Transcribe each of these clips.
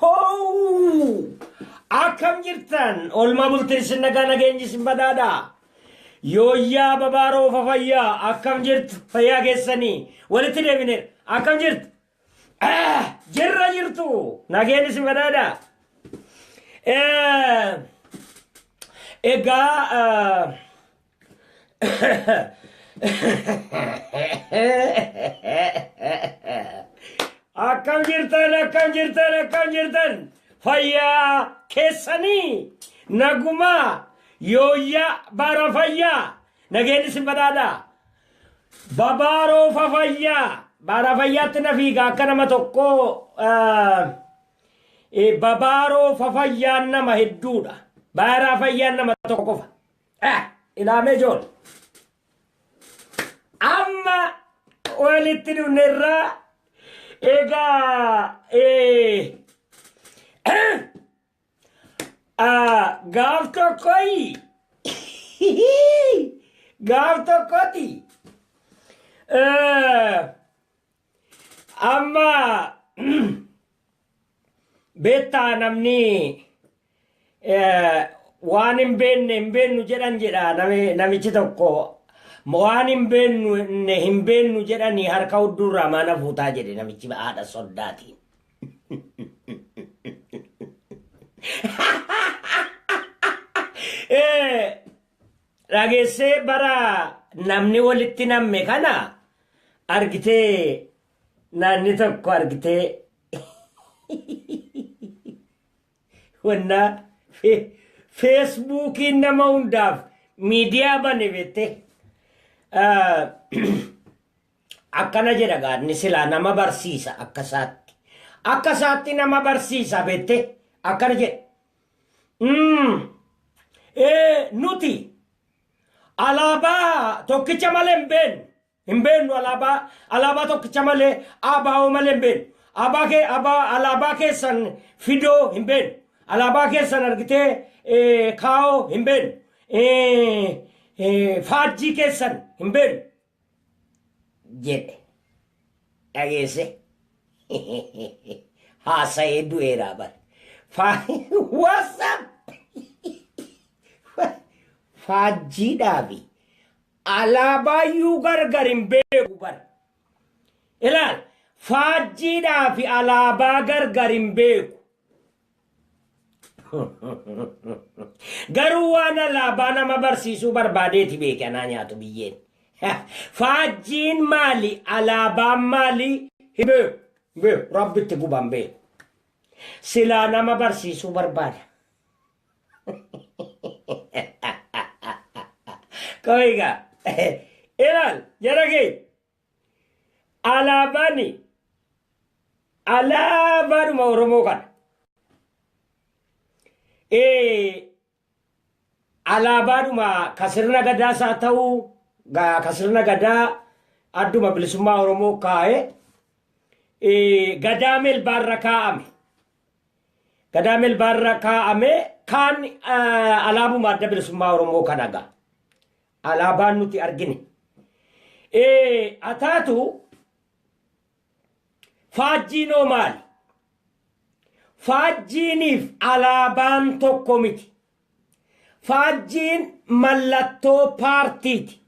Hoo! Akkam jirtan? Oolmaa bultiin isin nagaa nageenyi isin badhaadha. Yooyyaa babaaroo fafayyaa akkam jirtu fayyaa keessanii walitti deebineera. Akkam jirtu? Ah, Jirra jirtu nageenyi isin badhaadha. Eh, Egaa ah, Akkam jirtan akkam jirtan akkam jirtan fayyaa keessanii nagumaa yooyyaa bara fayyaa nageenyi isin badhaadhaa babaaroo fafayyaa bara fayyaatti na fiiga akka nama tokko ah, eh, babaaroo fafayyaan nama hedduudha bara fayyaan nama tokko qofa Eh, ilaamee jool. Amma walitti dhufne irraa egaa eh, eh, ah, gaaf tokkoyi gaaf tokkoti eh, Amma beektaa namni eh, waan hin beekne hin beeknu jedhan jedha nami- namichi tokko waan hin beekne hin beeknu jedhanii harka hudduurraa maana fuutaa jedhe namichi haadha soddaatiin. Eh, Dhageessee bara namni walitti namme kana argitee naanni tokko argitee wannaa feesbuukiin nama hundaaf miidiyaa bane beettee akkana jedha gaadni silaa nama barsiisa akka isaatti akka isaatti nama barsiisa beettee akkana jedha Mm. Ee, nuti alaabaa tokkicha malee hin beeknu. Hin beeknu alaabaa alaabaa tokkicha malee abaa'oo malee hin beeknu. Abaa kee abaa alaabaa keessan fidoo hin beeknu. Alaabaa keessan argitee ee, kaa'oo hin beeknu. Ee, ee, faajjii keessan hin beeknu. jedhe dhageesse haasa'ee du'eeraa bar whatsapp faajjiidhaafi alaabaayyuu gargar hin beeku bar ilaal faajjiidhaafi alaabaa gargar hin beeku Garuu waan alaabaa nama barsiisuu barbaadeeti beeke anaa nyaatu biyyeen. Faajjiin maali? Alaabaan maali? Himee bee rabbitti guban bee. Silaa nama barsiisuu barbaada. Koiga. Ilal, jara kee. Alaabaan alaabaadhuma Oromoo kana. Alaabaadhuma ka sirna gadaas haa ta'u ka sirna gadaa adduma bilisummaa Oromoo kaa'e gadaa melbaarra kaa'ame. Gadaa melbaarra kaa'ame kaan alaabuma adda bilisummaa Oromoo kana ga'a. Alaabaan nuti argine. Ee, ataatu faajjiinoo maali? Faajjiiniif alaabaan tokko miti. Faajjiin mallattoo paartiiti.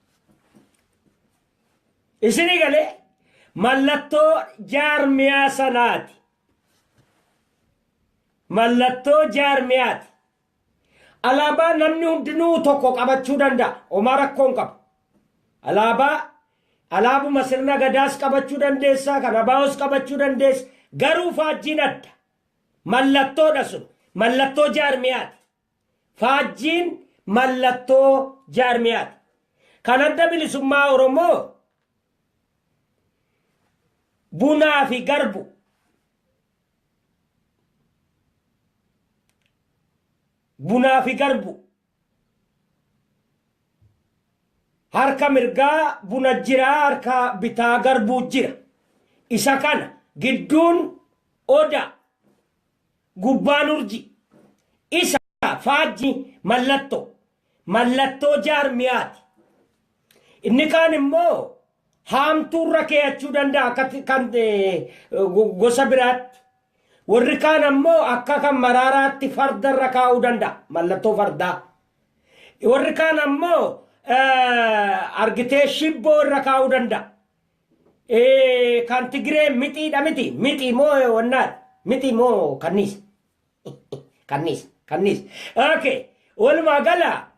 Isinii galee mallattoo jaarmiyaa sanaati. Mallattoo jaarmiyaati. Alaabaa namni hundinuu tokko qabachuu danda'a. Homaa rakkoo hin qabu. Alaabaa alaabuma sirna gadaas qabachuu dandeessa, kan abaawoos qabachuu dandeessa. Garuu faajjiin adda. Mallattoodha sun. Mallattoo jaarmiyaati. Faajjiin mallattoo jaarmiyaati. Kan adda bilisummaa Oromoo bunaa fi garbu. Bunaa fi Garbu. Harka mirgaa buna jira harka bitaa garbuu jira. Isa kana gidduun odaa gubbaan urjii isa faajjii mallattoo mallattoo jaarmiyaati. Inni kaan immoo haamtuu irra keeyachuu danda'a akka kan gosa biraatti. Warri kaan ammoo akka kan maraaraatti farda irra kaa'uu danda'a mallattoo fardaa. Warri kaan ammoo argitee shibboo irra kaa'uu danda'a. Kan Tigiree mixiidha miti mixii moo wannaadha mixii moo kanniisa. Kanniisa. Kanniisa. Okay. Walumaa gala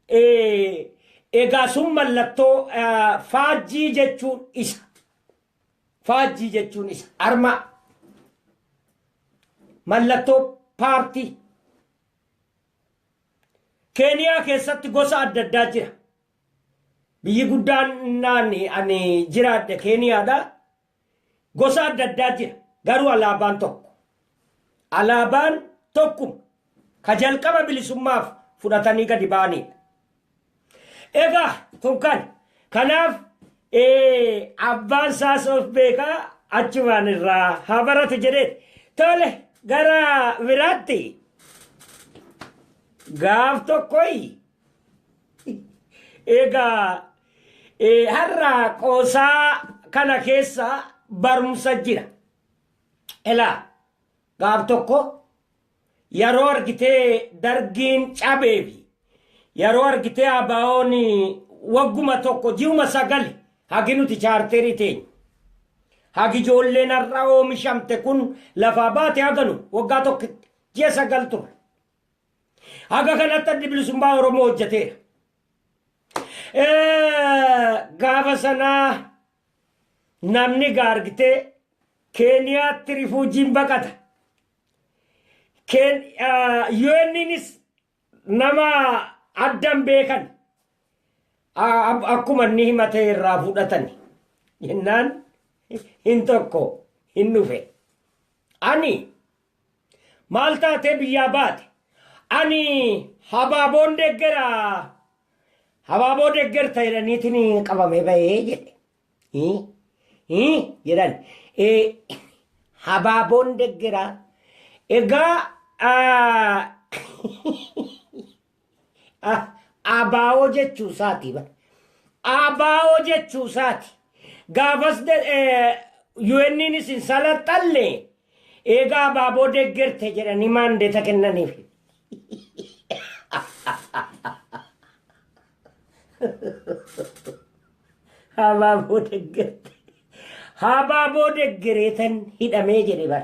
eh, egaa sun mallattoo eh, faajjii jechuun isa. Faajjii jechuun isa. Armaa. Mallattoo paartii. Keeniyaa keessatti gosa adda addaa jira. Biyyi guddaan naan ani jiraadhe Keeniyaadha. Gosa adda addaa jira. Garuu alaabaan tokko. Alaabaan tokkuma. Ka jalqaba bilisummaaf fudhatanii gadi ba'aniidha. Egaa kun kan. Kanaaf abbaan saas of beekaa achumaan irraa haa baratu jedhee tole gara biraatti gaaf tokkoyi Egaa eh, har'a qoosaa kana keessa barumsa jira. Elaa gaaf tokko yeroo argitee dargiin cabee fi yeroo argitee abaa'oon wagguma tokko ji'uma sagali hagi nuti chaarterii teenya. Hagi ijoolleen har'a oomishamte kun lafaa baate haganu waggaa tokkitti ji'a sagal ture. Haga kanatti addi bilisummaa Oromoo hojjeteera. Gaafa sanaa namni gaargitee Keeniyaatti rifuujiin baqata. UNnis nama addan beekan akkuma inni himatee irraa fudhatani. Jennaan hin tokko hin dhufe. Ani Maal taatee biyyaa baate? Ani habaaboon deggera habaaboo deggerta jedhaniitiin qabamee bahee jedhe. Hii? Hii? jedhan. Eh, Habaaboon deggera. Egaa ah, Abaawoo jechuu isaati bar. Abaawoo jechuu isaati. Gaafas UN'nis hin salaxxalle eegaa abaaboo deggerte jedhanii maandeeta kennaniif. Abaaboo deggerte. Abaaboo deggereetan hidhamee jedhe bar.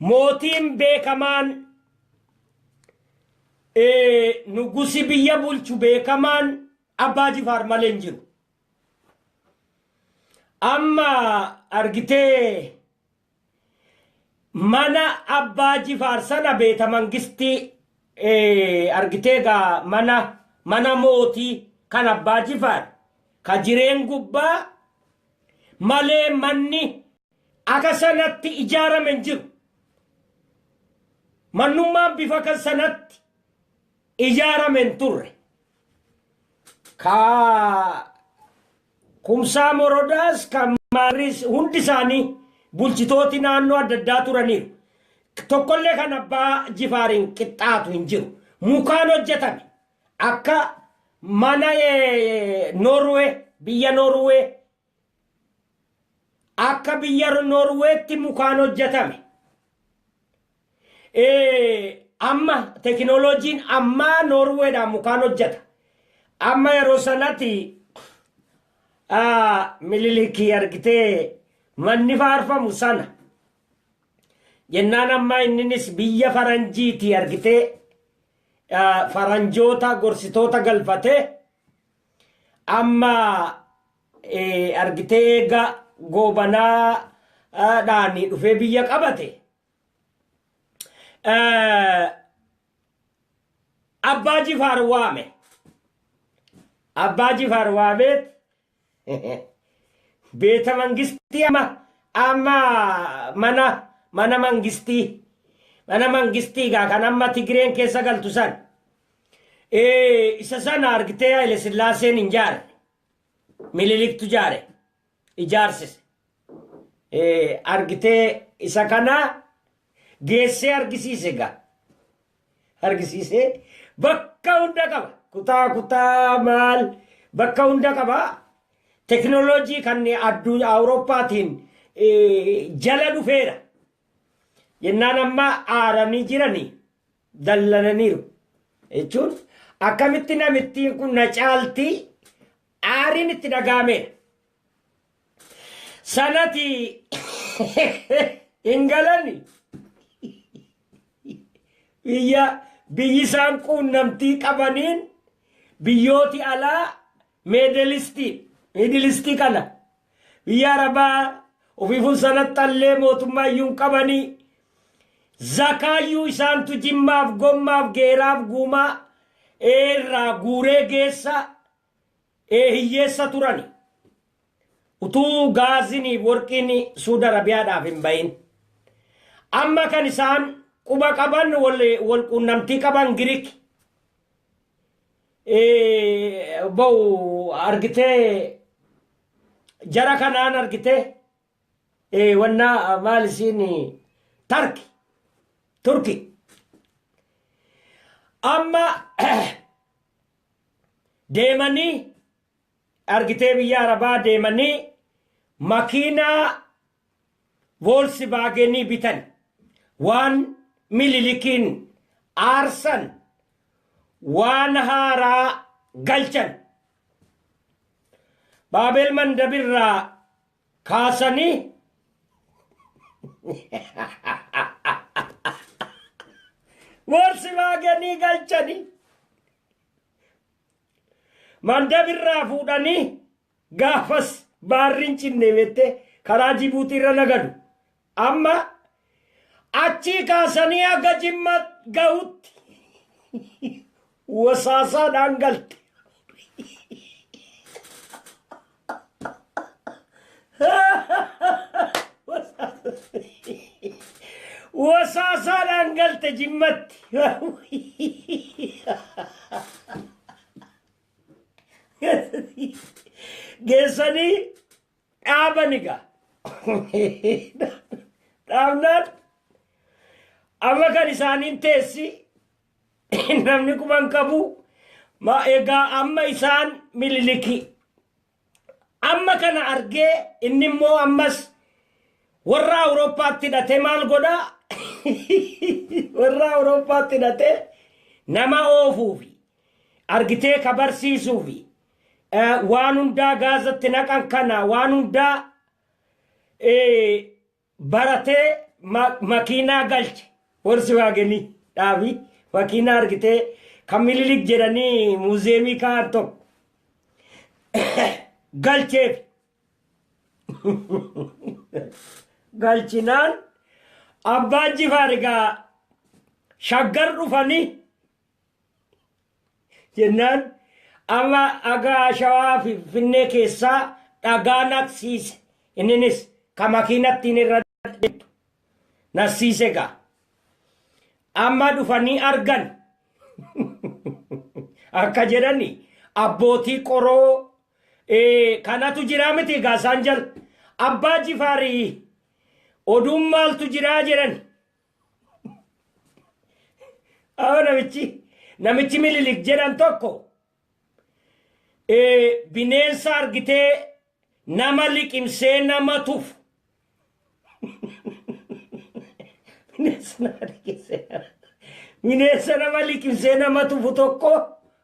Mootiin beekamaan nugusi biyya bulchu beekamaan abbaa jifaar malee hin jiru. Amma argitee mana abbaa jifaar sana beeta mangistii argitee gaa mana mana mootii kan abbaa jifaar ka jireen gubbaa malee manni aka sanatti ijaarame hin jiru. Mannummaan bifa kan sanatti ijaarame hin turre. Ka kumsaa morodaas kan maarris hundi isaanii bulchitooti naannoo adda addaa turaniiru. Tokkollee kan abbaa jifaariin qixxaatu hin jiru. Mukaan hojjetame akka mana Noorwee biyya Noorwee Akka biyya Noorweetti mukaan hojjetame. Amma tekinooloojiin ammaa Noorweedhaan mukaan hojjeta. Amma yeroo sanatti Minilikii argitee manni faarfamu sana. Jennaan ammaa inninis biyya faranjiiti argitee faranjoota gorsitoota galfatee Amma argitee eega Goobanaadhaan dhufee biyya qabate Abbaa Jifaar waame. Abbaa Jifaar waameet beeta mangistii amma amma mana mana mangistii mana mangistii gaa kan amma Tigireen keessa galtu san Ee, isa sana argitee Haile Sillaaseen hin jaare. Mililiktu jaare. Ijaarsise. Ee, argitee isa kana geessee argisiise gaa. Argisiisee bakka hunda qaba. Kutaa kutaa maal bakka hunda qaba. Teknooloojii kan addunyaa Awurooppaatiin ee, jala dhufeera. Jennaan amma aaranii jiranii. dallananiiru. Jechuun akkamitti namittiin kun na caalti aariin itti dhaga'ameera. Sanati hin galani. Biyya biyyi isaan quunnamtii qabaniin biyyooti alaa Meedelistii, Miidilistii kana biyya Arabaa ofiifun sanaxxallee mootummaayyuu hin qabanii, zakaayyuu isaantu jimmaaf, gommaaf, geeraaf, guumaa, ee irraa guuree geessa, ee hiyyeessa turani. Utuu gaaziniif worqiin Suud Arabiyaadhaaf hin bahin. Amma kan isaan quba qaban wal quunnamtii qaban Giriki. ba'u argitee jara kanaan argitee wannaa maal isiin tarki turki amma deemanii argitee biyya arabaa deemanii makiinaa Voolsivaagenii bitan. Waan Mililikiin aarsan waan haaraa galchan. Baabel Mandab irraa kaasanii Voolsivaagenii galchanii. Mandab irraa fuudhanii Gaafas baarri hin cinne beettee karaa Jibuutiirra na galu. Amma achii kaasanii haga Jimma gahutti wasaasaadhaan galte. Wasaasaadhaan galte Jimmatti. geessanii dhaaban egaa dhaabnaan amma kan isaaniin teessi namni kuman qabu ma egaa amma isaan mililiki Amma kana argee inni immoo ammas warra Awurooppaatti hidhatee maal godha? warra Awurooppaatti hidhatee nama oofuufi argitee ka barsiisuufi waan hundaa gaazatti naqan kana waan hundaa baratee ma makiinaa galche Volkswagenii dhaabi makiinaa argitee kan Minilik jedhanii muuziyeemii kaa'an tokko galcheef galchinaan Abbaan Jifaar egaa Shaggar dhufanii jennaan amma agaa shawaa fi finfinnee keessaa dhagaa naqsiise inninis ka makiinattiin irra deemtu naqsiise gaa amma dhufanii argan akka jedhani abbootii qoroo kanatu jiraa miti gaa isaan jala abbaa jifaarii oduun maaltu jiraa jedhani Awa namichi namichi mililik jedhan tokko eh, bineensa argitee nama liqimsee nama tufu. Bineensa nama liqimsee nama- bineensa nama liqimsee nama tufu tokko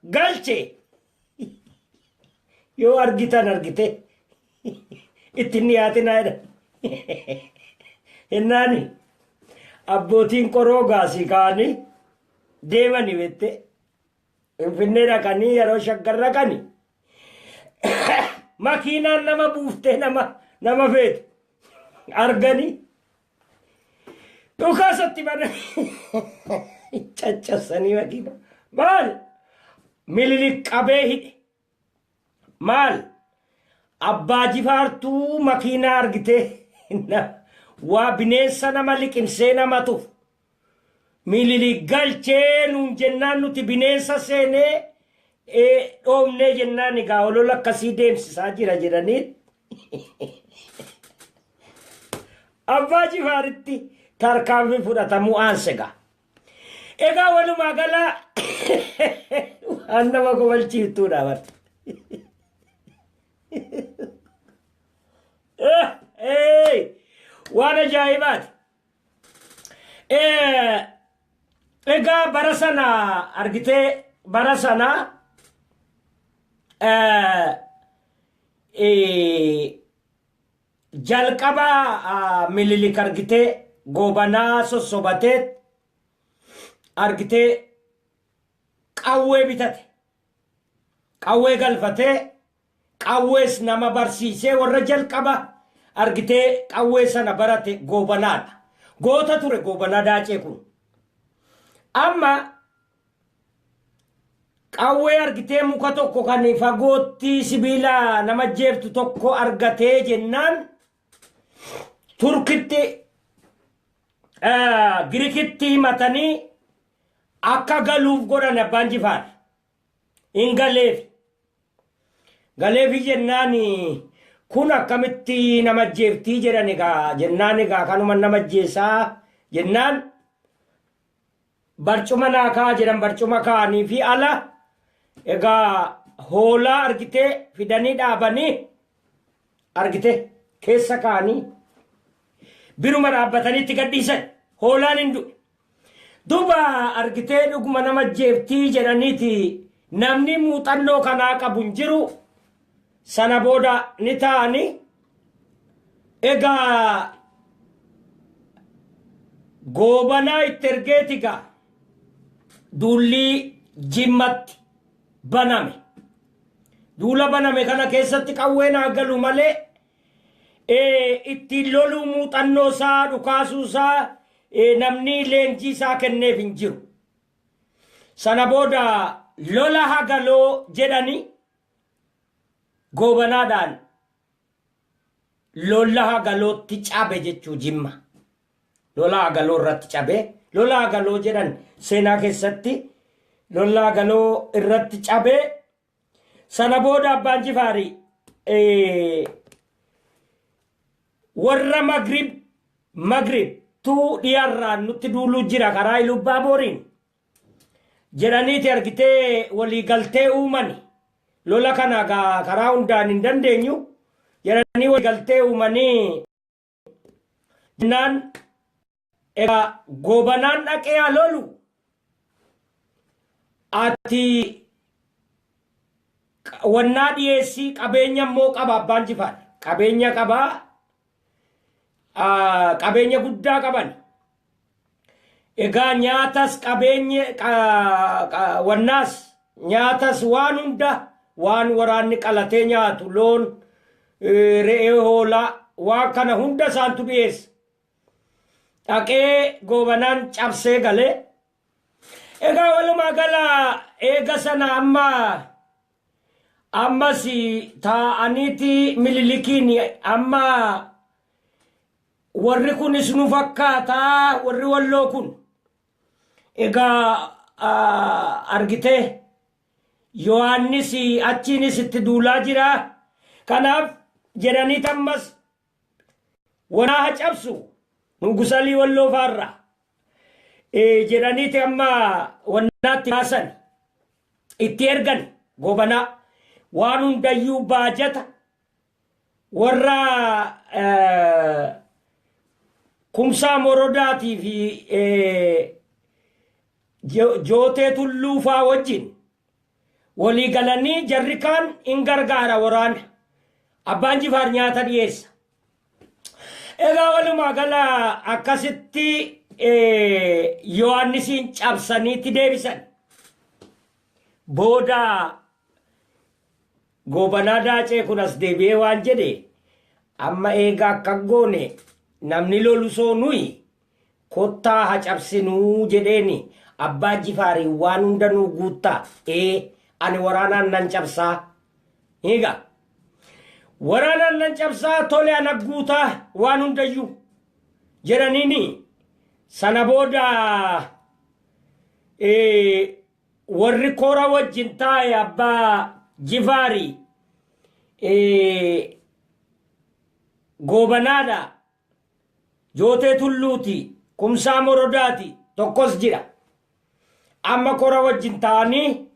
galche. Yoo argitan argite itti hin dhiyaatinaa jedha. Jennaani abbootiin qoroo gaasii kaa'anii deemanii bette Finfinnee dhaqanii yeroo shaggar dhaqani makiinaan nama buuftee nama nama feetu arganii Dhukaasa itti bananii caccabsanii makiina. Maal? Mililik qabee hidhe. Maal? Abbaa jifaartuu makiinaa argitee na- waa bineensa nama liqimsee nama tufu. Mililik galchee nuun jennaan nuti bineensa seene dhoofnee jennaan egaa olola akkasii deemsisaa jira jedhanii abbaa jifaaritti tarkaanfii fudhatamuu aansega. Egaa walumaa galaa waan nama kofalchiiftuudha bar. Waan ajaa'ibaati. Egaa bara sana argitee bara sana jalqaba mililik argitee goobanaa sossobatee argitee qawwee bitate qawwee galfatee Qawwees nama barsiisee warra jalqaba argitee qawwee sana barate Goobanaadha. Goota ture Goobanaa Daacee kun. Amma qawwee argitee muka tokko kan fagootti sibiila nama ajjeeftu tokko argatee jennaan Turkitti Girikitti himatanii akka galuuf godhan abbaan jifaar. hin galeefi. Galeefi jennaan kun akkamitti nama ajjeeftii jedhan egaa jennaan egaa kanuma nama ajjeesaa jennaan barcuma naa kaa jedhan barcuma kaanii fi ala egaa hoolaa argitee fidanii dhaabanii argite keessa kaanii biruma dhaabbataniitti gadhiisan hoolaan hin du'e. Duba argitee dhuguma nama ajjeeftii jedhaniti namni muuxannoo kanaa qabu hin jiru sana booda ni taa'ani egaa goobanaa itti ergeeti gaa duullii jimmatti baname duula baname kana keessatti qawween haa galu malee ittiin loluu muuxannoo isaa dhukaasuu isaa namni leenjii isaa kenneef hin jiru. Sana booda lola hagaloo jedhani goobanaadhaan lola hagalootti cabe jechuu jimma. Lola hagaloo irratti cabe. Lola hagaloo jedhan seenaa keessatti lola hagaloo irratti cabe. Sana booda abbaan jifaari warra magrib magrib tuu dhiyarraan nutti duuluu jira karaa ilubbaa booriin jedhaniiti argitee walii galtee uumani lola kana karaa hundaan hin dandeenyu jedhanii walii galtee uumanii jennaan egaa goobanaan dhaqee haa lolu ati wannaa dhiyeessii qabeenya immoo qaba abbaan jifaar qabeenya qabaa qabeenya guddaa qaban Egaa nyaatas qabeenye qa, qa, wannaas nyaatas waan hunda waan waraanni qalatee nyaatu loon eh, re'ee hoolaa waan kana hunda isaantu dhiyeessa dhaqee goobanaan cabsee galee egaa walumaa gala eega sana amma ammas taa'aniiti mililikiin amma Warri kunis nu fakkaata warri walloo kun. Egaa argitee Yohaannis achiinis itti duulaa jira. Kanaaf jedhanii tammas wanaa ha cabsu nugusalii walloo faarra jedhaniiti amma wannaatti baasan itti ergan gobanaa waan hundayyuu baajata Warra Kumsaa Morodaatii fi Jootee Tulluu faa wajjin walii galanii jarri kaan in gargaara waraana. Abbaan Jifaar nyaata dhiyeessa. Egaa walumaa gala akkasitti Yohaannisiin cabsaniitti deebisan. Booda Goobanaa Daacee kun as deebi'ee waan jedhe, Amma eega akkas goone namni lolu soo nuyi, kottaa ha cabsinu jedheeni Abbaa Jifaariin waan hunda nuu guutta, ee, ani waraanaan nan cabsaa. Ni ga. Waraanaan nan cabsaa tole ana guuta waan hundayyuu. Jedhaniini sana booda ee, Warri kora wajjin taa'e abbaa Jifaari Goobanaadha, Jootee Tulluuti, Kumsaa Morodaati, tokkos jira. Amma kora wajjin taa'anii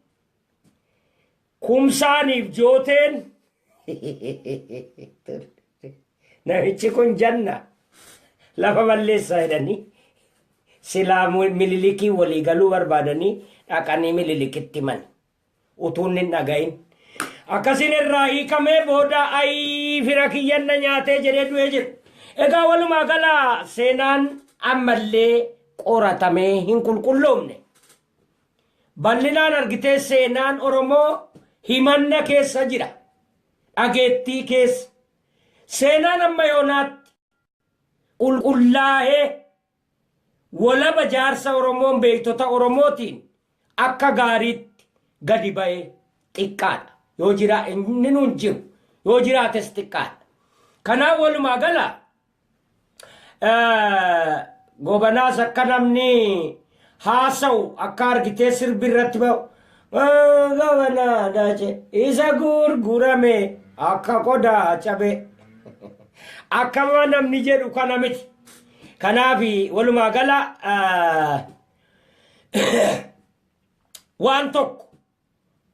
Kumsaaniif jooteen namichi kun janna lafa balleessaa jedhanii silaa mililikii walii galuu barbaadanii dhaqanii mililikitti himan utuun hin dhagahin akkasin irraa hiikamee booda ayii fira kiyyan na nyaatee jedhee du'ee jira. Egaa walumaa gala seenaan ammallee qoratamee hin qulqulloomne. Ballinaan argitee seenaan Oromoo himanna keessa jira. Dhageettii keessa. Seenaan amma yoonaatti qulqullaahee wolaba jaarsa Oromoon beektota Oromootiin akka gaariitti gadi ba'e xiqqaadha. Yoo jiraa inni nuun jiru. Yoo jiraates xiqqaadha. Kanaaf walumaa gala Gobanaas akka namni haasa'u akka argitee sirbi irratti ba'u. Gobanaa dace isa gurgurame akka qodaa cabe. Akkama namni jedhu kana miti. Kanaaf walumaa gala waan tokko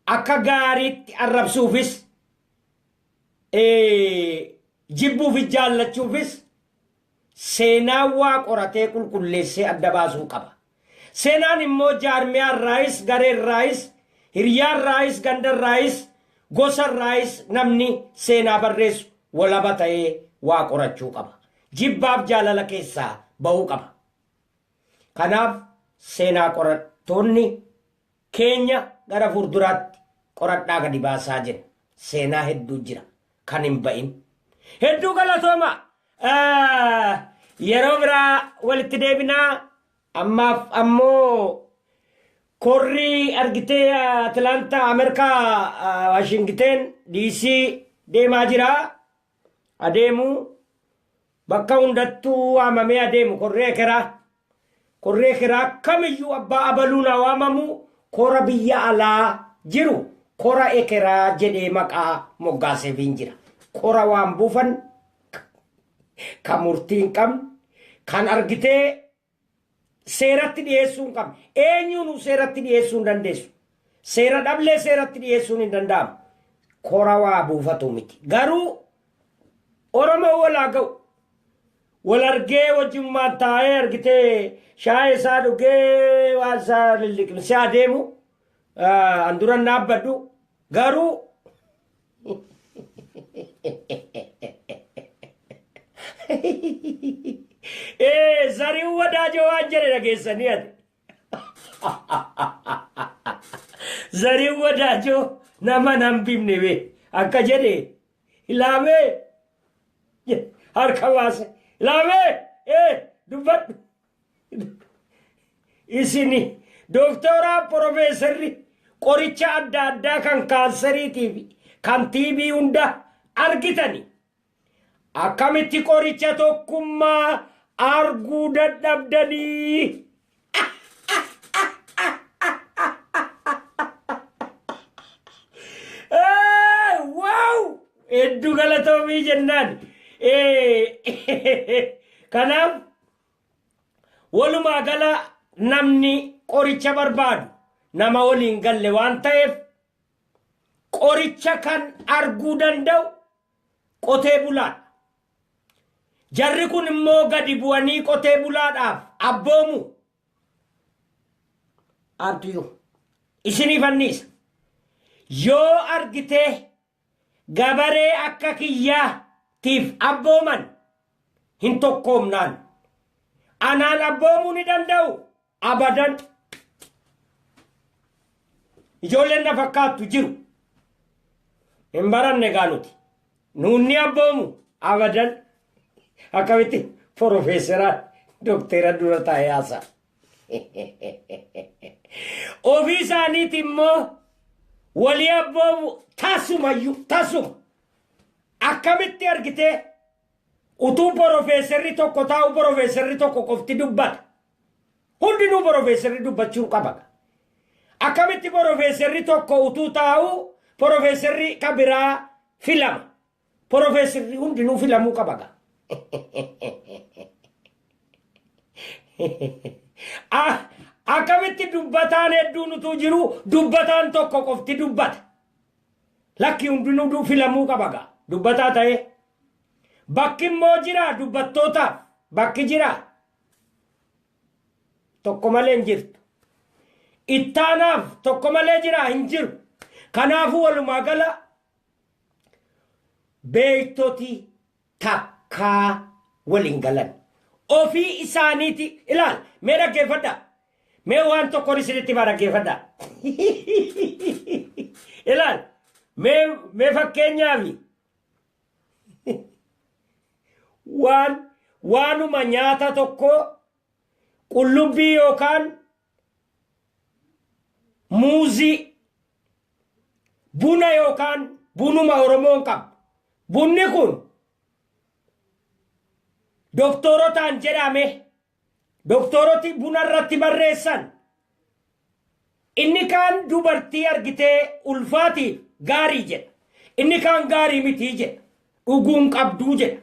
akka gaariitti arrabsuufis Jibbuufi jaallachuufis seenaawwaa qoratee qulqulleessee adda baasuu qaba. Seenaan immoo jaarmiyaarraayis, gareerraayis, hiryaarraayis, gandarraayis, gosarraayis namni seenaa barreessu walaba ta'ee waa qorachuu qaba. Jibbaaf jaalala keessaa bahuu qaba. Kanaaf seenaa qorattoonni keenya gara fuulduraatti qoradhaa gadi baasaa jenna. Seenaa hedduu jira kan hin ba'in. Hedduu galatooma. Ah, Yeroo biraa walitti deebinaa ammaaf ammoo korri argitee Atilaantaa Ameerikaa Waashingiteen DC deemaa jira. adeemuu bakka hundattuu waamamee adeemu korri ekeraa korri ekeraa kamiyyuu abbaa abaluun haa waamamu kora biyya alaa jiru kora ekeraa jedhee maqaa moggaaseefiin jira kora waan buufan ka murtii hin qabne kan argitee seeratti dhiyeessuu hin qabne. Eenyuunuu seeratti dhiyeessuu hin dandeessu. Seera dhablee seeratti dhiyeessuun hin danda'amu. Kora waa buufatu miti. Garuu Oromoo wal haa ga'u. Wal argee wajjummaan taa'ee argitee shaayee isaa dhugee waan isaa lilliqimsee adeemu an duran dhaabbadhu. Garuu Ee zariin wadaajoo waan jedhe dhageessanii ati. Zariin wadaajoo nama nan bifne bee akka jedhe ilaamee harka baase ilaamee ee dubbadhu. Isini doktooraa porofeesarri qoricha adda addaa kan kaansariitii fi kan tiibii hunda argitani. Akkamitti qoricha tokkummaa arguu dadhabdanii? Waaw! Hedduu galatoomii jennaan. Kanaaf Walumaa gala namni qoricha barbaadu nama waliin galle waan ta'eef qoricha kan arguu danda'u qotee bulaadha. Jarri kun immoo gadi bu'anii qotee bulaadhaaf abboomu. Abdiyoo isiniif anniisa. Yoo argitee Gabaree akka kiyyaa tiif abbooman hin tokkoomnaan. Anaan abboomuu ni danda'uu? Abadan! Ijoolleen na fakkaattu jiru. Hin baranne gaa nuti. Nuun ni abboomu? Abadan! Akkamitti Porofeeseraa Dokteera dura taa'ee haasa'a? Ofii isaaniiti immoo walii abboomu tasumayyuu tasuma. Akkamitti argitee utuu porofeesarri tokko taa'u porofeesarri tokko qofti dubbata. Hundinuu porofeesarri dubbachuu qaba. Akkamitti porofeesarri tokko utuu taa'u porofeesarri kan biraa filama. Porofeesirri hundinuu filamuu qaba gaa. Ah, Akkamitti dubbataan hedduun utuu jiru dubbataan tokko qofti dubbata. Lakki hundinuu du- filamuu qaba gaa. Dubbataa ta'ee. Bakki immoo jira dubbattootaaf. Bakki jira. Tokko malee hin jirtu. Ittaanaaf tokko malee jira hin jiru. Kanaafuu walumaa gala beektoti takkaa wal hin galan. Ofii isaaniiti ilaal mee dhaggeeffadha. Mee waan tokkoon isinitti hima dhaggeeffadha. ilaal mee mee fakkeenyaafi waan waanuma nyaata tokkoo qullubbii yookaan muuzii, buna yookaan bunuma Oromoon qabu. Bunni kun doktorotaan jedhame doktoroti buna irratti barreessan inni kaan dubartii argitee ulfaatiif gaarii jedha. Inni kaan gaarii mitii jedha. Dhuguun qabduu jedha.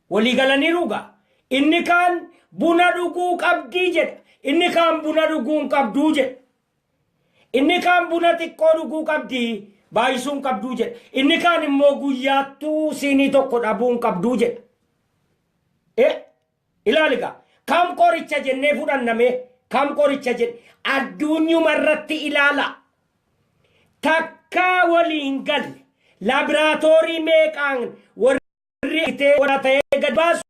Walii galaniiruu gaa? Inni kaan buna dhuguu qabdi jedha. Inni kaan buna dhuguu hin qabdu jedha. Inni kaan buna xiqqoo dhuguu qabdi baay'isuu hin qabdu jedha. Inni kaan immoo guyyaattuu siinii tokko dhabuu hin qabdu jedha. E Ilaali egaa kam qoricha jennee fudhanna mee kam qoricha jenne adduunyuma irratti ilaalaa takkaa walii hin galle laabiraatoorii meeqaan warri itee warra ta'ee gad baasu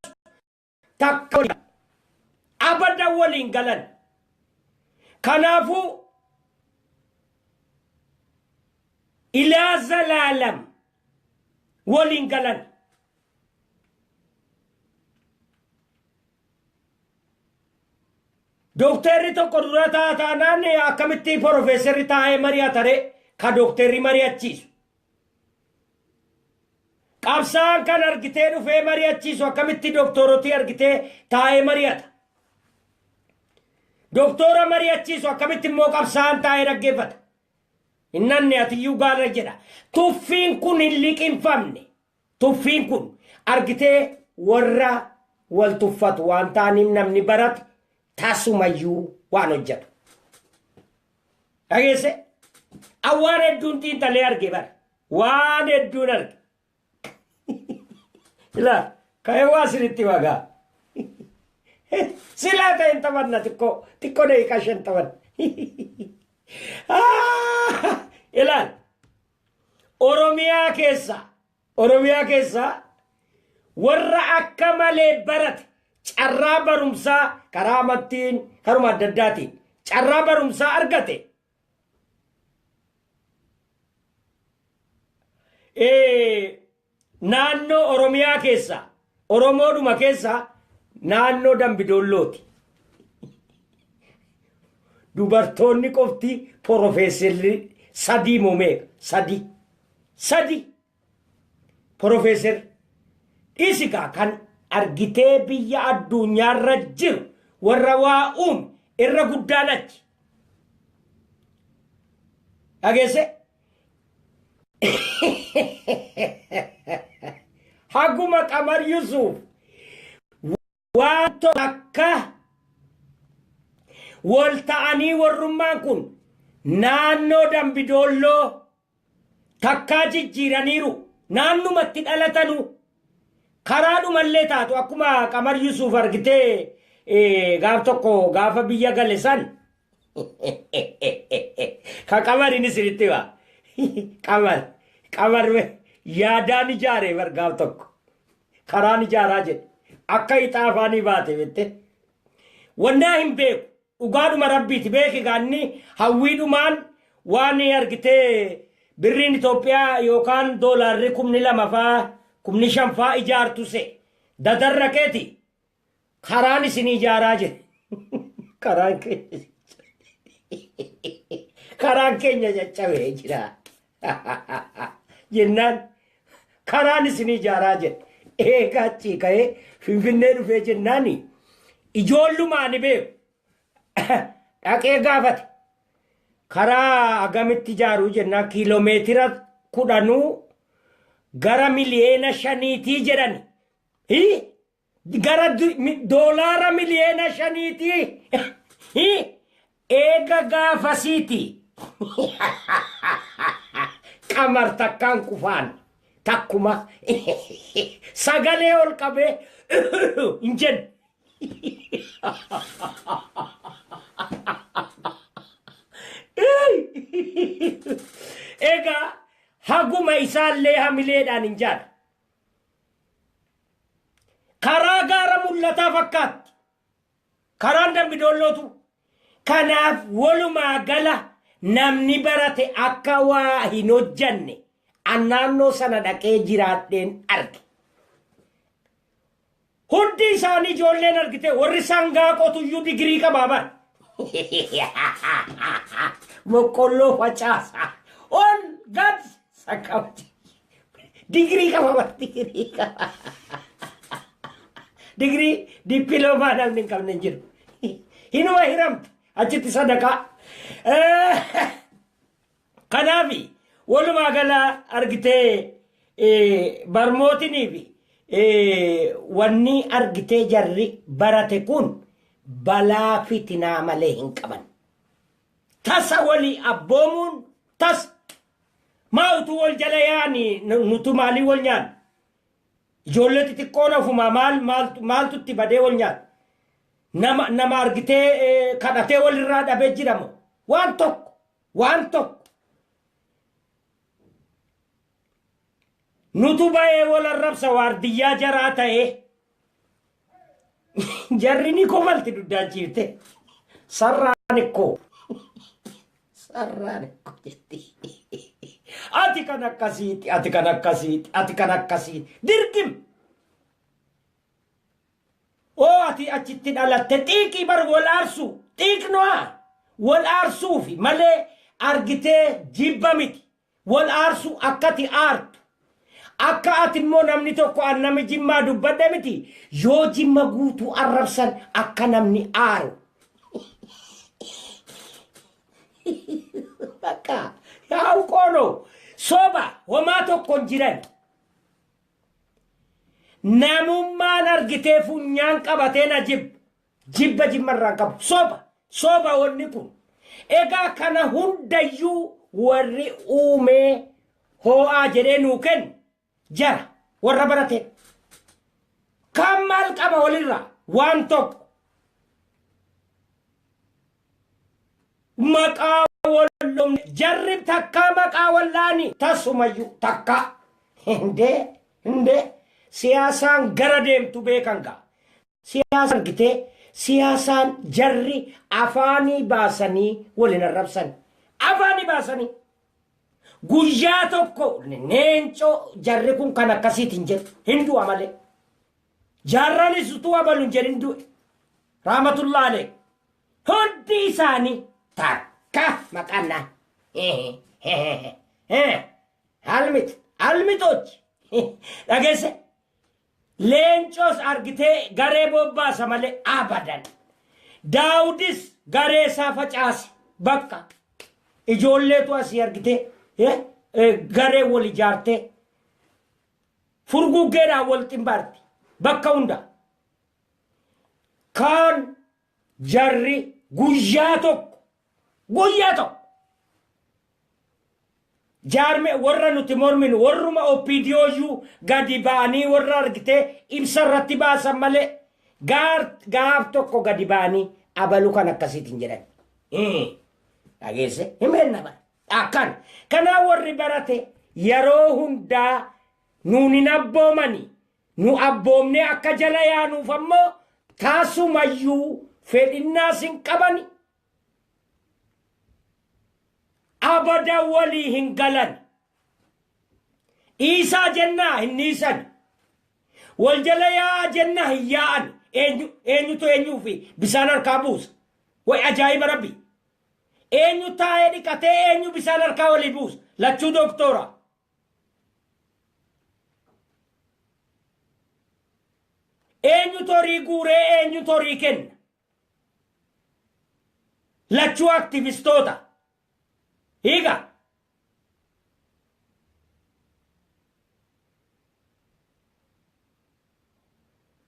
takka walii galle abada walii hin galan kanaafuu ilaa zalaalam walii hin galan Dokteerri tokko dura ta'a taanaan akkamitti porofeesarri taa'ee mari'ata ree? Ka dokteerri mari'achiisu. Qabsaa'aan kan argitee dhufee mari'achiisu akkamitti doktoorotii argitee taa'ee mari'ata? Doktoora mari'achiisu akkamitti immoo qabsaa'aan taa'ee dhaggeeffata? Innanni atiyyuu gaara jedha. Tuffiin kun hin liqinfamne. Tuffiin kun argitee warra wal tuffatu waan taaniif namni barate tasumayyuu waan hojjetu. Dhageesse? An waan hedduun xiinxalee arge bara. Waan hedduun arge. Ilaa, ka'ee waa siritti wagaa. Silaa ta'e hin taphanna xiqqoo, xiqqoo daqiiqaa shan taphanna. Ilaal, Oromiyaa keessa Oromiyaa keessa warra akka malee barate carraa barumsaa karaa amattiin karuma adda addaatiin carraa barumsaa argate Naannoo Oromiyaa keessaa Oromoodhuma keessaa naannoo Dambidoollooti. Dubartoonni qofti porofeesserri sadii moo meeqa? Sadii. Sadii. Porofeesserri. Dhisi kaa kan argitee biyya addunyaarra jiru warra waa uume irra guddaan achi. Dhageesse? haguma qamar yusuuf waan tokko akka wal ta'anii warrummaan kun naannoo dambidoolloo takkaa jijjiiraniiru naannumatti dhalatanu karaa dhumallee taatu akkuma qamar yusuuf argitee gaaf tokko gaafa biyya gale san Ka qamar inni siritti waa. Qamar. Qamar we. Yaadaan ijaare bar gaaf tokko. Karaan ijaaraa jedhe. Akka ixaa afaanii baate bette. Wannaa hin beeku. Dhugaadhuma rabbiiti beeki gaanni hawwiidhumaan waan argitee birriin Itoophiyaa yookaan doolaarri kumni lama faa kumni shan faa ijaartu se. Dadarra keeti. karaan isin ijaaraa jedhe karaan keenya karaan keenya caccabee jira jennaan karaan isin ijaaraa jedhe eegaa achii ka'ee finfinnee dhufee jennaan ijoollumaa ni beeku dhaqee gaafate karaa agamitti ijaaruu jennaan kiiloomeetira kudhanuu gara miliyeena shaniitii jedhani. Hii? gara doolaara miliyoona shaniiti eega gaafasiiti qamar takkaan qufaan takkuma sagalee ol qabee hin jennu egaa haguma isaallee hamileedhaan hin jaadha Karaa gaara mul'ataa fakkaatti. Karaan dambi doollootu. Kanaaf walumaa gala namni barate akka waa hin hojjanne an naannoo sana dhaqee jiraadheen arge. Hundi isaanii ijoolleen argitee warri sangaa qotuyyuu digirii qabaa bar. Boqqolloo facaasa. Ol gad sakkabdi. Digirii qaba bar digirii qaba. Digirii dippiloomaa namni hin qabne hin jiru. Hinuma hiramte achitti sadaqaa. Kanaafi, walumaa gala argitee barmootinii fi wanni argitee jarri barate kun balaa fitinaa malee hin qaban. Tasa walii abboomuun tasa. Maa utuu wal jala yaani nutu maalii wal nyaanna? Ijoollee xixiqqoon ofumaa maal maaltu maaltu itti badee wal nyaata? Nama nama argitee kadhatee walirraa dhabee jira moo? Waan tokko Waan tokko nutu bayee wal arrabsa waardiyyaa jaraa ta'ee jarri ni kofalti duddaan ciifte sarraan ikkoo sarraan ikkoo jetti ati kan akkasiiti ati kan akkasiiti ati kan akkasiiti dirqim Oo ati achitti dhalatte xiiqii bar wal aarsuu xiiqnua wal aarsuufi malee argitee jibba miti wal aarsuu akkati aartu akka ati immoo namni tokko an nami jimmaa dubbadhe miti yoo jimma guutuu arrabsan akka namni aaru bakka yaa uqoonoo soba homaa tokko hin jiran Namummaan argitee funyaan qabatee na jibba. Jibba jimma irraan qabu. Soba. Soba wanni kun. Egaa kana hundayyuu warri uumee hoo'aa jedhee nuu kennu jara warra baratee. Kan maal qaba walirraa? Waan tokko. maqaa wallomne jarrib takkaa maqaa wallaani tasumayyu takkaa hindee hindee siyaasaan gara deemtu beekan gaa siyaasaan gitee siyaasaan jarri afaanii baasanii waliin arrabsan afaanii baasanii guyyaa tokko neencoo jarri kun kan akkasiitiin jedhu hin du'a malee jaarranis utuu abaluun jedhin du'e raamatullaalee Hundi isaanii takka maqaan naa. Almit, almitochi. Dhageesse. Leencoos argitee garee bobbaasa malee abadan. Daawudis garee isaa facaase bakka. Ijoolleetu asii argitee eh, eh, garee wal ijaartee furguggeedhaan wal ximbaarti bakka hundaa. Kaan jarri guyyaa tokko guyyaa tokko jaarme warra nuti morminu warruma OPDOyyuu gadi ba'anii warra argitee ibsa irratti baasan malee gaar gaaf tokko gadi ba'anii abalu kan akkasiitiin jedhan. Hii, Dhageesse himeen nama akkan kanaa warri barate yeroo hundaa nuun hin abboomani Nu abboomnee akka jala yaanuuf ammoo tasumayyuu fedhinnaas hin qabani. Abadan walii hin galani. Dhiisaa jennaa hin dhiisani. Wal jala yaa'aa jennaa hin yaa'ani. Eenyu, eenyutu eenyuufi bisaan harkaa buusa? Way ajaa'iba rabbi! Eenyu taa'ee dhiqatee eenyu bisaan harkaa walii buusa? Lachuu doktoora. Eenyutu horii guuree eenyutu horii kenna? Lachuu aktivistoota. Hiika.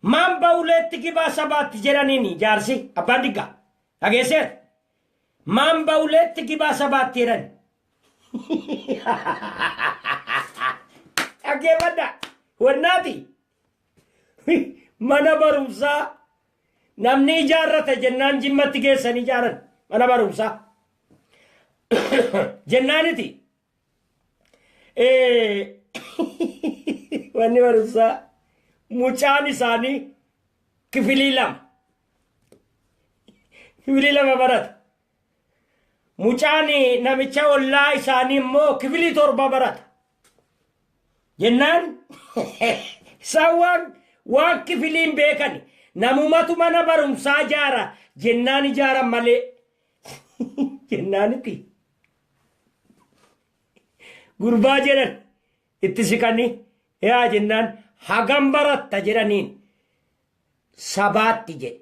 Maan ba'uleetti gibaa sabaatti jedhaniin jaarsi abbaan diggaa dhageesseera. Maan ba'uleetti gibaa sabaatti jedhan Dhaggeeffadha. Wannaati. Mana barumsaa namni ijaarrata jennaan jimmatti geessan ijaaran mana barumsaa. Jennaaniti. Eh, Manni barumsaa mucaan isaanii kifilii lama. Kifilii lama barata. Mucaan namicha ollaa isaanii immoo kifilii torba barata. Jennaan isaan waan waan kifiliin beekan namumatu mana barumsaa ijaara jennaan ijaaran malee jennaanitti gurbaa jedhan itti siqanii yaa jennaan hagam baratta jedhaniin sabaatti jedhe.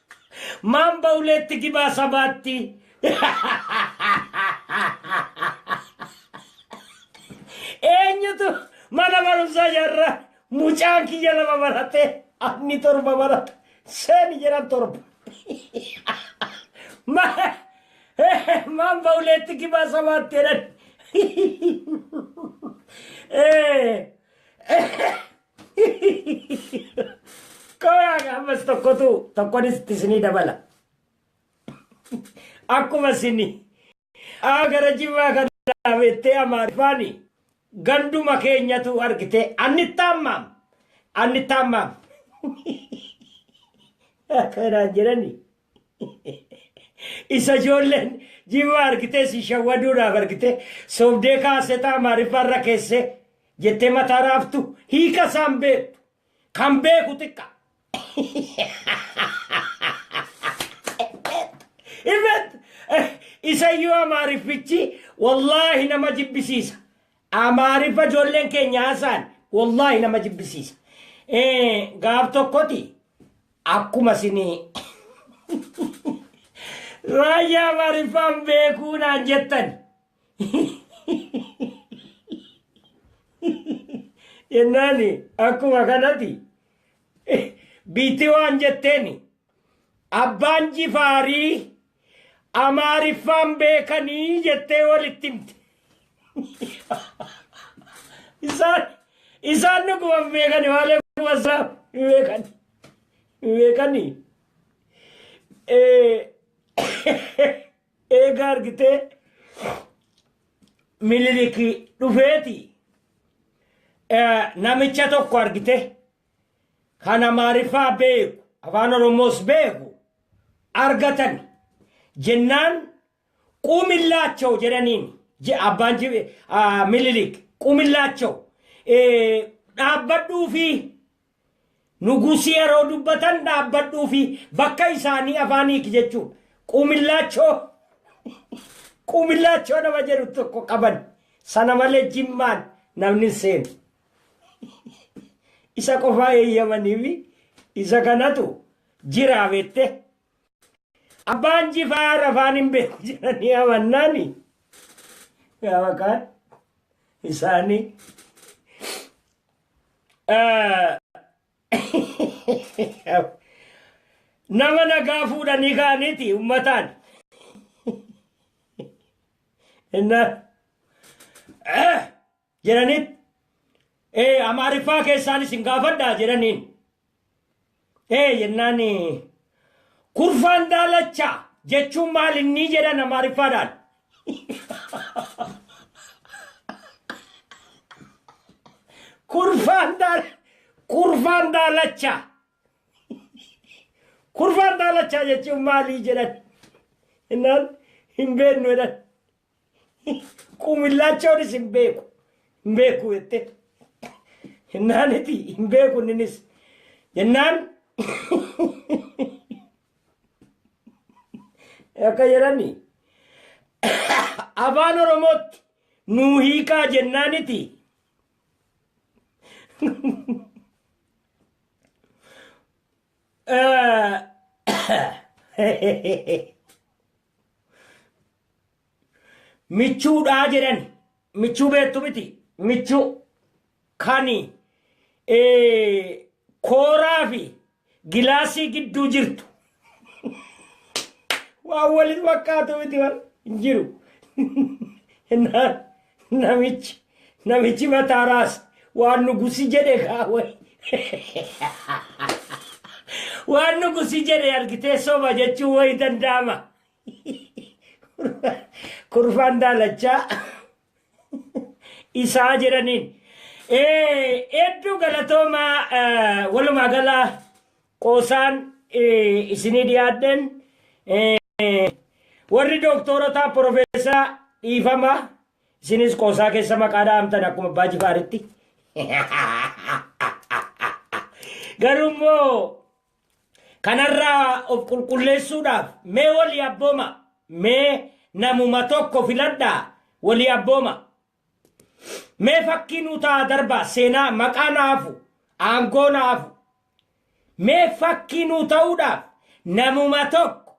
Maambaa uleetti gibaa sabaatti. Eenyutu mana barumsaa jarra mucaan kiyya lama barate anni torba barata seeni jedhan torba. Ma- Maambaa uleetti gibaa sabaatti jedhan. Eh, Kooyaaga ammas tokkotu tokkonis itti isinii dabala. Akkuma isin aa gara jimmaa kana beettee amaarifaani ganduma keenyatu argite anni taammaam anni taammaam. Akkanaan jedhani. Isa ijoolleen jimaa argitee si shawwaduudhaaf argitee sobdee kaasetaa maariffaarra keessee jettee mataa raaftu hiika isaan beektu kan beeku xiqqa. Imet isayyuu amaariffichi wallaahi nama jibbisiisa. Amaariffa ijoolleen keenya haasaan wallaahi nama jibbisiisa. Gaaf tokkoti Akkuma sini Raayyaa Amaariffaan beekuu naan jettan. Jennaan akkuma kanati biitti waan jetteen abbaan jifaarii Amaariffaan beekanii jettee walitti himte. Isaan isaan dhuguma hin beekani malee kumasaa hin beekani. Hin beekani. Eega argitee Minilik dhufeeti namicha tokko argite kan Amaariffaa beeku, Afaan Oromoos beeku argatan jennaan Quumillaachaw jedhaniin je- abbaan ji- ah, Minilik Quumillaachaw eh, dhaabbadhuufii Nugusii yeroo dubbatan dhaabbadhuu fi bakka isaanii afaan hiiki jechuun quumillaachoo quumillaachoo nama jedhu tokko qaban sana malee jimmaan namni hin seenu. isa qofaa eeyyamaniifi isa kanatu jiraa bette abbaan jifaa rafaan hin beeku jedhanii amannaani gaafa kaan isaanii nama nagaa fuudhanii kaaniiti ummataan innaa jedhanitti ee amaariffaa keessaan isin gaafadhaa jedhaniin ee jennaan kurfaan daalacha jechuun maal inni jedhan amaariffaadhaan kurfaan daal kurfaan daalacha kurfaan daalacha jechuun maalii jedhan jennaan hin beeknu jedhan Quumillaachonis hin beeku hin beeku jette jennaan iti hin beeku inninis jennaan akka jedhani afaan oromootti nuu hiikaa jennaan iti Eh, Michuudhaa jedhan. Michuu beektu miti. Michuu kani kooraa fi gilaasii gidduu jirtu. Waan walitti fakkaatu miti waan hin jiru. Innaan Namichi namichi mataa raase waan nugusi jedhe kaa wayi. Waan nugusi jedhe argitee soba jechuun wayi danda'ama. Kurfaan daalachaa isaa jedhaniin. Eh, Hedduu galatoomaa eh, walumaa gala Qoosaan isinii dhiyaadheen warri dooktoorotaa Professor dhiifama isinis qoosaa keessa maqaa dhahamtan akkuma Abbaa Jifaaritti. Garuu immoo kanarraa of qulqulleessuudhaaf mee walii abbooma mee namuma tokko filadhaa walii abbooma. Mee fakkii nuu ta'aa darbaa seenaa maqaa na hafu aangoo na hafu mee fakkii nuu ta'uudhaaf namuma tokko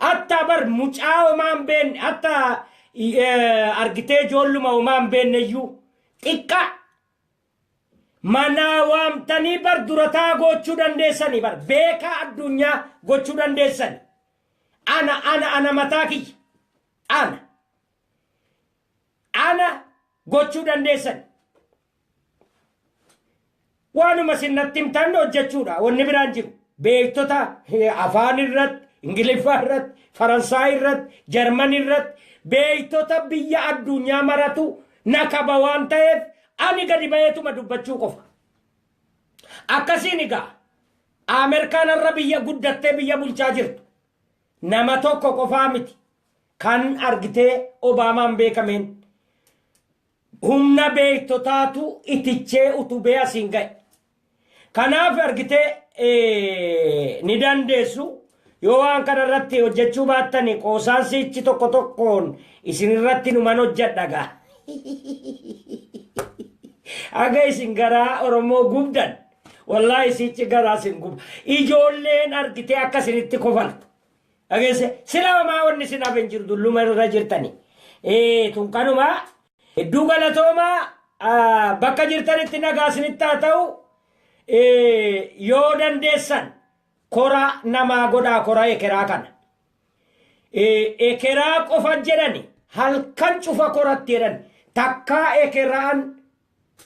attaa bar mucaa homaa hin beekne atta argitee ijoolluma homaa hin beekne iyyuu xiqqaa manaa waamtanii bar durataa gochuu dandeessanii bar beekaa addunyaa gochuu dandeessanii ana ana ana mataa kiyya ana Ana gochuu dandeessan. Waanuma isin natti himtan hojjechuudha. Wanni biraan jiru. Beektota eh, afaan irratti, Ingiliffaa irratti, Faransaay irratti, Jarman irratti beektota biyya addunyaa maratu na qaba waan ta'eef ani gadi ba'eetuma dubbachuu qofa. Akkasiin egaa Ameerikaan irra biyya guddattee biyya bulchaa jirtu. Nama tokko qofaa miti. Kan argitee Obaamaan beekameen humna beektotaatu itichee utubee asiin ga'e. Kanaaf argitee ni dandeessu yoo waan kana irratti hojjechuu baattani qoosaan siichi tokko tokkoon isin irratti numan hojjedha gaa. Aga isin garaa Oromoo gubdan wallaahi siichi garaa isin guba. Ijoolleen argitee akka isinitti kofaltu. Dhageesse sila homaa wanni sin hafe hin jiru dulluma irra jirtani. Eh, tun kanuma hedduu galatooma ah, bakka jirtanitti nagaa isinitti haa ta'u eh, yoo dandeessan kora namaa godhaa kora ekeraa kana. Eh, ekeraa qofa jedhani halkan cufa koratti jedhan takkaa ekeraan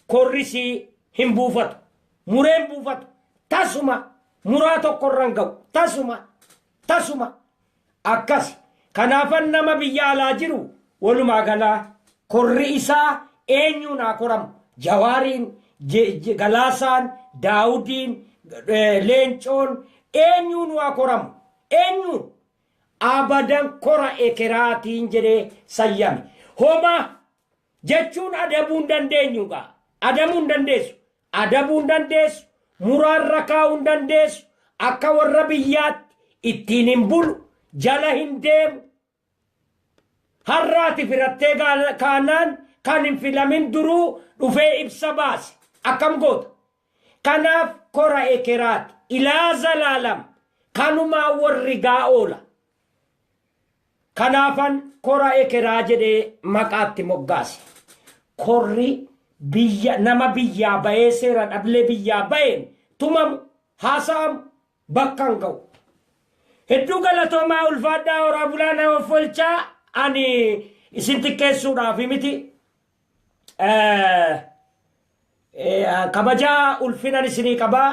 Korri sii hin buufatu. Muree hin buufatu. Tasuma muraa tokko irra hin ga'u. Tasuma. Tasuma. Akkasi. Kanaafan nama biyya alaa jiru walumaa galaa korri isaa eenyuun haa koramu. Jawaariin, Je- Je- Galaasaan, Daawudiin, eh, Leencoon eenyuun haa koramu. Eenyuun. abadan kora ekeraatiin jedhee sayyame. Homa jechuun adabuu hin dandeenyu gaa adabuu hin dandeessu adabuu hin dandeessu muraarra kaa'uu hin dandeessu akka warra biyyaatti ittiin hin bulu jala hin deemu har'aati firattee kaanaan kan hin filamin duruu dhufee ibsa baase akkam goota Kanaaf kora ekeraat ilaa zalaalam kanumaa worrigaa oola. Kanaafan kora ekeraa jedhee maqaa itti moggaase. Korri biyya nama biyyaa ba'ee seera dhablee biyyaa ba'een tumamu, haasa'amu, bakkan ga'u. Hedduu galatoomaa ulfaadhaa horaa bulaa na offolchaa ani isin xiqqeessuudhaafi miti kabajaa ulfinan isinii qabaa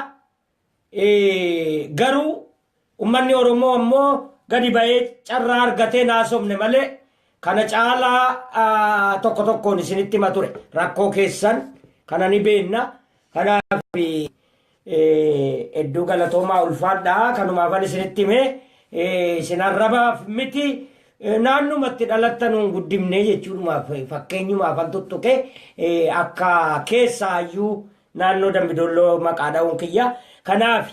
garuu ummanni oromoo ammoo gadi ba'ee carraa argatee naasofne malee kana caalaa tokko tokkoon isinitti hima ture rakkoo keessan kana ni beenna kanaaf Hedduu galatoomaa ulfaadhaa kanumaafan isinitti hime isin arrabaaf miti naannuma itti dhalattan hin guddifne jechuudhumaaf fakkeenyumaafan tuttuqe akka keessaayyuu naannoo dambidolloo maqaa dha'uun kiyya kanaaf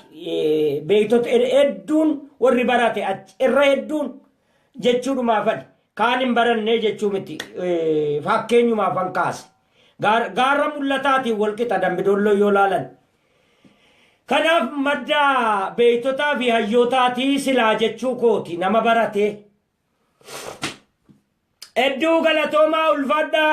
beektota hedduun warri barate achi irra hedduun jechuudhumaafan Kaan hin barannee jechuu miti fakkeenyumaafan kaase. Gaarra mul'ataatiin walqixa dambidolloo yoo laalan. Kanaaf madda beektotaa fi hayyootaatii silaa jechuu kooti nama baratee. Hedduu galatoomaa ulfaadhaa